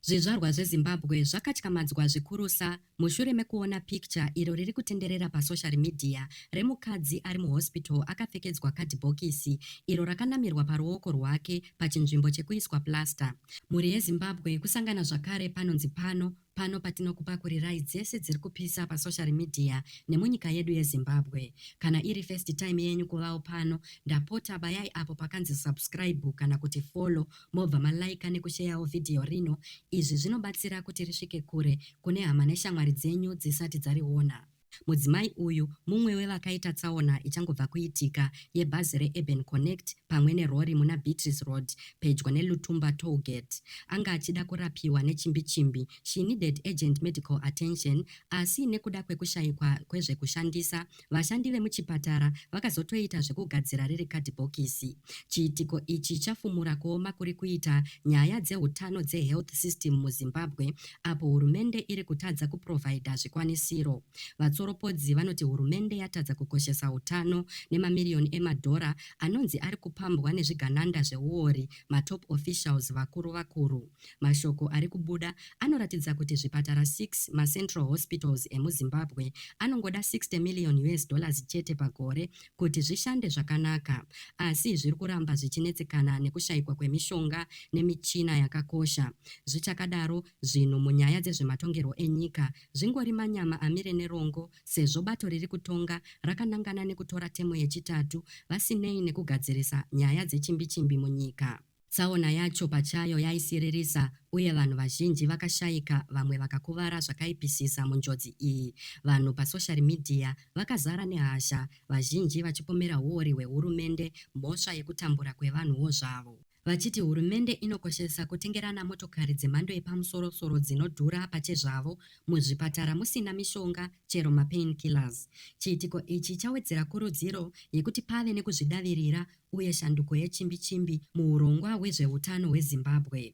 Zvizvarwa zveZimbabwe zvakatyamadzwa zvikurusa mushure mekuona picture iro riri kutenderera pasocial media remukadzi ari muhospital akapfekedzwa kadhibhokisi iro rakanamirwa paruoko rwake pachinzvimbo chekuiswa plaster. Mhuri yeZimbabwe kusangana zvakare panonzi pano pano patinokupakurirai dzese dziri kupisa pasocial media nemunyika yedu yeZimbabwe. Kana iri first time yenyu kuvawo pano, ndapota bayai apo pakanzi subscribe kana kuti follow mobva ma liker nekusheyawo video rino izvi zvinobatsira kuti risvike kure kune hama neshamwari dzenyu dzisati dzariona. Mudzimai uyu mumwe wevakaita tsaona ichangobva kuitika yebhazi reUrban Connect pamwe nerori muna Beatrice Road pedyo neLutumba Toll Gate. Anga achida kurapiwa nechimbi-chimbi, she needed urgent medical attention, asi nekuda kwekushaikwa kwezvekushandisa Vashandi vemuchipatara vakazotoita zvekugadzira riri kadhibhokisi. Chiitiko ichi chafumura kuoma kuri kuita nyaya dzehutano dzehealth system muZimbabwe apo hurumende iri kutadza kuprovhaidha zvikwanisiro. Vatsoropodzi vanoti hurumende yatadza kukoshesa hutano nemamiriyoni emadhora anonzi ari kupambwa nezvigananda zveuori matop officials vakuru vakuru. Mashoko ari kubuda anoratidza kuti zvipatara six, macentral hospitals emuZimbabwe, anongoda 60 million us dollars chete pagore kuti zvishande zvakanaka. Asi zviri kuramba zvichinetsekana nekushaikwa kwemishonga nemichina yakakosha. Zvichakadaro, zvinhu munyaya dzezvematongerwo enyika zvingori manyama amire nerongo sezvo bato riri kutonga rakanangana nekutora temu yechitatu vasinei nekugadzirisa nyaya dzechimbichimbi munyika. Tsaona yacho pachayo yaisiririsa uye vanhu vazhinji vakashaika vamwe vakakuvara zvakaipisisa munjodzi iyi. Vanhu pasoshari midhiya vakazara nehasha, vazhinji vachipomera huori hwehurumende mhosva yekutambura kwevanhuwo zvavo, vachiti hurumende inokoshesa kutengerana motokari dzemhando yepamusorosoro dzinodhura pachezvavo muzvipatara musina mishonga chero mapain killers. Chiitiko ichi chawedzera kurudziro yekuti pave nekuzvidavirira uye shanduko yechimbi chimbi muhurongwa hwezvehutano hweZimbabwe.